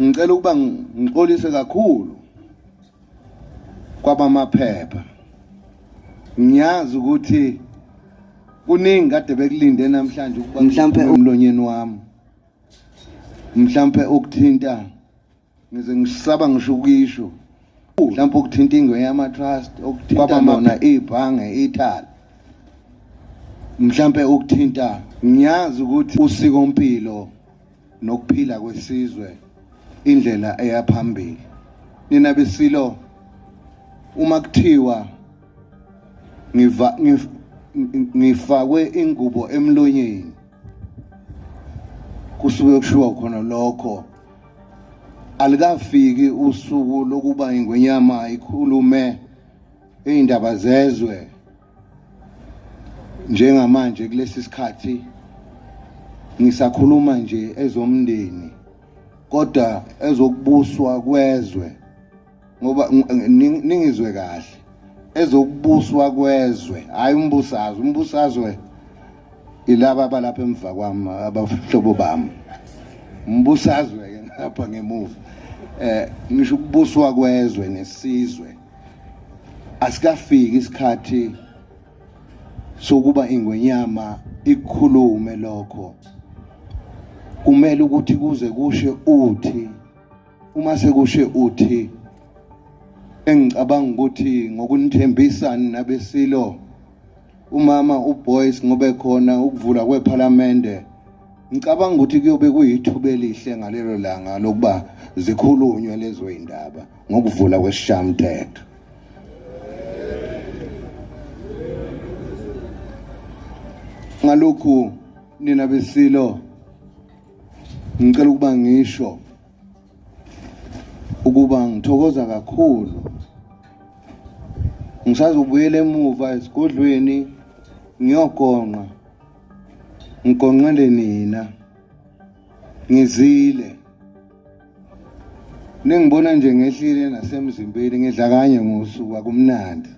ngicela ukuba ngixolise kakhulu kwabamaphepha ngiyazi ukuthi kuningi kade bekulinde namhlanje ukuba mhlampe umlonyeni wami mhlampe ukuthinta ngize ngisaba ngisho ukuyisho mhlampe ukuthinta ingwe yama trust okuthinta lona ibhange ithala mhlampe ukuthinta ngiyazi ukuthi usiko mpilo nokuphila kwesizwe indlela eya phambili nina besilo uma kuthiwa ngiva ngifakwe ingubo emlonyeni kusuke kushiwa khona lokho alikafiki usuku lokuba ingwenyama ikhulume iy'ndaba zezwe njengamanje kulesi sikhathi ngisakhuluma nje ezomndeni kodwa ezokubuswa kwezwe ngoba ningizwe kahle ezokubuswa kwezwe hayi umbusazwe umbusazwe ilaba abalapha emva kwami abahlobo bami umbusazwe ke ngapha ngemuva eh ngisho ukubuswa kwezwe nesizwe asikafiki isikhathi sokuba ingwenyama ikhulume lokho kumele ukuthi kuze kushe uthi uma sekushe uthi engicabanga ukuthi ngokunithembisa nabesilo umama uBoyce ngobe khona ukuvula kwephalamende ngicabanga ukuthi kuyobe kuyithuba elihle ngalelo langa lokuba zikhulunywe lezo indaba ngokuvula kwesishamthetho ngalokhu nina besilo ngicela ukuba ngisho ukuba ngithokoza kakhulu ngisazobuyela emuva esigodlweni ngiyogonqa ngigonqele nina ngizile nengibona nje ngehlile nasemzimbeni ngidla kanye ngosuku akumnandi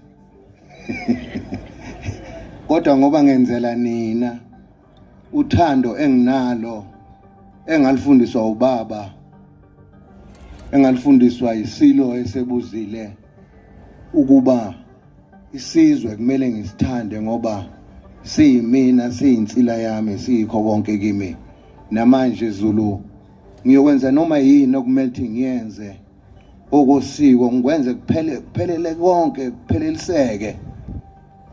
kodwa ngoba ngenzela nina uthando enginalo engalifundiswa ubaba engalifundiswa isilo esebuzile ukuba isizwe kumele ngisithande ngoba siyimina siyinsila yami siyikho konke kimi namanje Zulu ngiyokwenza noma yini okumele ukuthi ngiyenze okosiko ngikwenze kuphele kuphelele konke kupheleliseke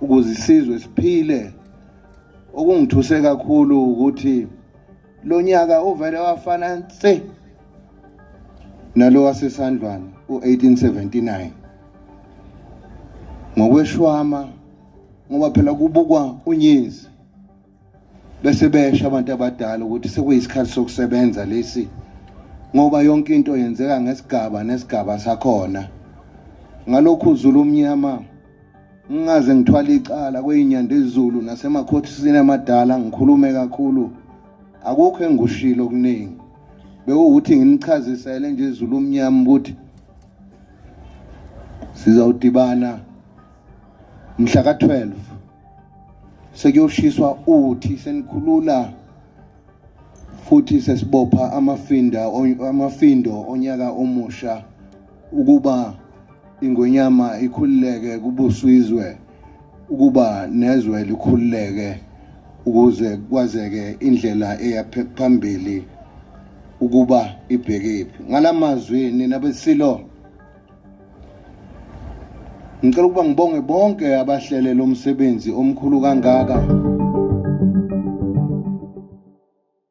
ukuze isizwe siphile okungithuse kakhulu ukuthi lo nyaka uvele wafana nse nalo wasesandlwana u-1879 ngokweshwama ngoba phela kubukwa unyezi bese besho abantu abadala ukuthi sekuyisikhathi sokusebenza lesi ngoba yonke into yenzeka ngesigaba nesigaba sakhona ngalokhu uzulu omnyama ngingaze ngithwala icala kweyinyanda ezulu nasemakhothini amadala ngikhulume kakhulu akukho engushilo okuningi bewukuthi nginichazisele nje izulu omnyama ukuthi sizawudibana mhla ka-12 sekuyoshiswa uthi senikhulula futhi sesibopha amafinda amafindo onyaka omusha ukuba ingonyama ikhululeke kubuswizwe ukuba nezwe likhululeke ukuze kwazeke indlela eya phambili ukuba ibhekephi ngalamazwi nina besilo Ngicela ukuba ngibonge bonke abahlele lo msebenzi omkhulu kangaka.